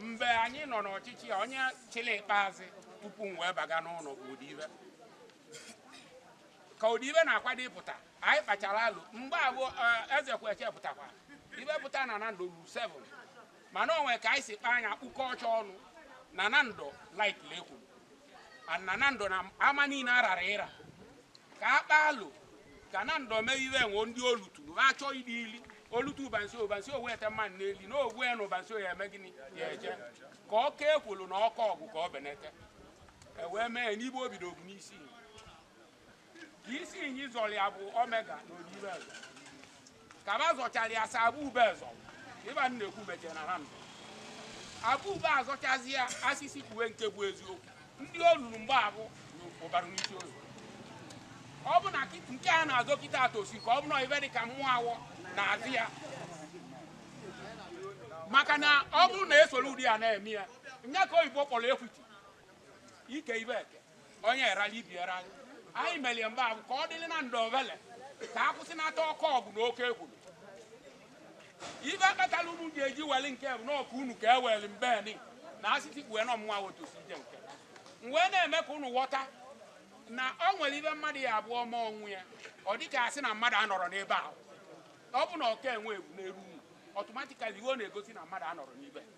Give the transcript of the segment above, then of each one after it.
mgbe anyị nọ n'ọchịchị a onye chịrị ikpeazụ tupu m wee baga n'ụlọ bụ Odibe ka Odibe na-akwado ịpụta anyị kpachara alo mgbe abụ eze kweche pụtakwa ive pụta na Nando lu 7 mana o nwe ka anyị si kpaa anya kpụkọ ọcha ọnụ na Nando like lekwuru na Nando n'ama niile arara ịra ka a kpa alo ka Nando mee ive e nwe ndị olutu ha achọ ịdị ili olutu ụbansi Ubarunisioye ete mmanụ n'eli na ogwe ya na Ubarunisioye ya eme gịnị ya eje ka ọka ekwulu na ọka ọgwụ ka ọ benete ewee mee n'ive o bido obu n'isi ka Isinyi zọrọ ya bụ Omega na Odibe zọ ka ba zọchara ya sa Abube zọ ive m na-ekwu mejere Nando Abube azọchazi ya asịsị kpuwe nke bụ eziokwu ndị o ruru mgbe abụ bụ Ubarunisioye ọ bụ na kit- nke a na-azọ kịta atosi ka ọ bụ na ive dị ka mụnwa na-azọ ya maka na ọ bụrụ na esoro ụdị ya na-eme ya nya ka oyibo kpọrọ equity ike ive eke onye erali ibe erali anyị melie mgbe ahụ ka ọ dịrị Nando ovele ka a kwụsị nata ọkụ ọgụ na oke ekwu ive kpatara unu ji eji weli nke bụ n'ọkụ unu ka e weli mbeni na asịsị kpue na ọ mụnwa wotosi ije nke m wee na-eme ka unu ghọta na ọ nwere ive mmadụ ya abụọ ma ọnwụ ya ọ dị ka asị na mmadụ anọrọ n'ebe ahụ ọ bụ na ọka enwe egwu n'elu unu automatically ive ọ na-egosi na mmadụ anọrọ n'ibe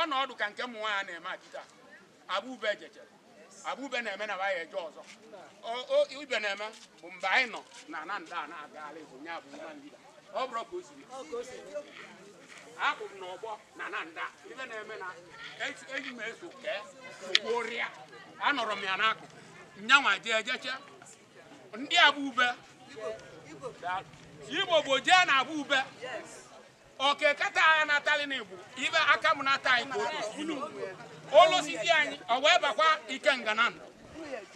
Ọnọdụ ka nke mụnwa a na-eme kịta Abube ejechere Abube na-eme na ya eje ọzọ ive na-eme bụ mgbe anyị nọ na Nando a na-agagharị bụ nya bụ nwa ndida ọ bụrụ ka o siri akwụ m n'ọgbọ na Nando ive na-eme na eji m eso kee ogborịa anọrọ m ya n'akụkụ nyanwa jee ejeche ndị Abube Igbo bụ jee na Abube o kekata anyị natalị n'Igbo ibe Akamanato anyị ka o tosiri ilu olosisi anyị ọ wee bakwa Ikenga Nando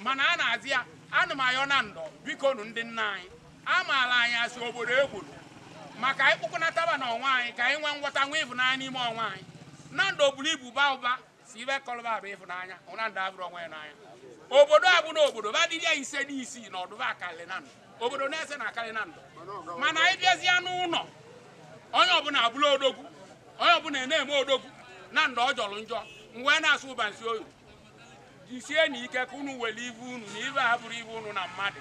mana a na-azọ ya ana m ayọ Nando bikonu ndị nna anyị amaala anyị isi obodo ekwuru maka anyị kpụkọnataba onwe anyị ka anyị nwee nghọta nwee ịvụnanya n'ime onwe anyị Nando buru ibu baa ụba sọ ive kọlụ ba bụ ịfụnanya na Nando avụrọ onwe ya n'anya obodo abụ na obodo ba dịrị ya ise dị isii na ọdụba akarị Nando obodo na-ese na akarị Nando mana anyị bịazie n'ụlọ onye ọbụla abụla odogwu onye ọbụla na-eme odogwu Nando ọ jọrọ njọ m wee na-asị Ubarunisioye jisie na ike ka unu were ive unu na ive ha bụrụ ive unu na mmadụ